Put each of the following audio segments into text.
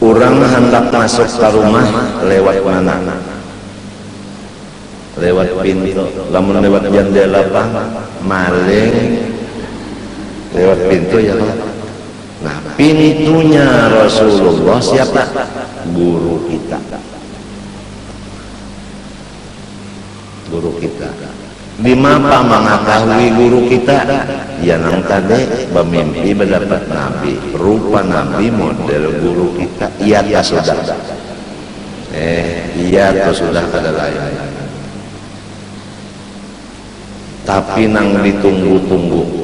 Urang handak masuk ka rumah lewat mana? Lewat pintu. Lamun lewat jandela pang maling lewat pintu ya kah? Nah, pintunya Rasulullah siapa? Guru kita. Guru kita. Dimapa mangatahui guru kita? Iya nang tadi, bamimpi badapat nabi, rupa nabi model guru kita. Iya kah sudah? Eh, iya tu sudah kada lain. Tapi nang ditunggu-tunggu.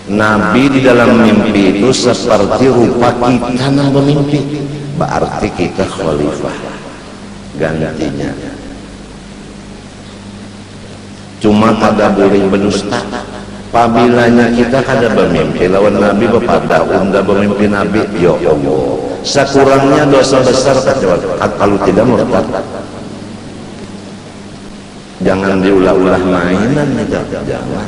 Nabi di dalam mimpi itu seperti rupa kita nang bamimpi. Baarti kita khalifah. gantinya. Cuma kada buling bedusta. Pabilanya kita kada bamimpi lawan Nabi bapada unda bamimpi Nabi, ya Allah. Sakurangnya dosa besar kacuali, kalu tidak murtad. Jangan diulah-ulah mainan itu, jangan.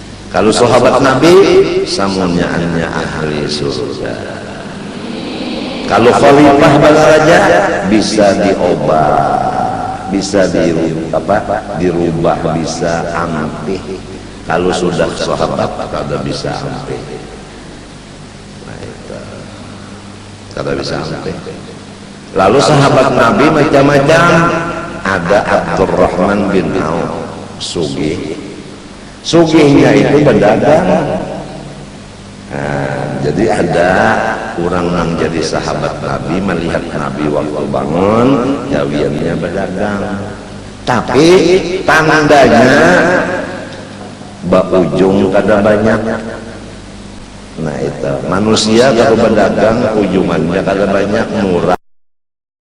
Kalu sahabat Nabi, samunyaannya ahli surga. Kalu khalifah badaraja, bisa diobah, bisa dirubah, bisa ampih. Kalu sudah sahabat, kada bisa ampih. Kada bisa ampih. Lalu sahabat Nabi macam-macam. Ada Abdurrahman bin Auf, sugih. Sugihnya itu badagang. Nah, jadi ada orang nang jadi sahabat Nabi malihat Nabi waktu bangun, gawiannya badagang. Tapi tandanya baujung kada banyak. Nah itu, manusia kalau badagang ujungannya kada banyak, murah.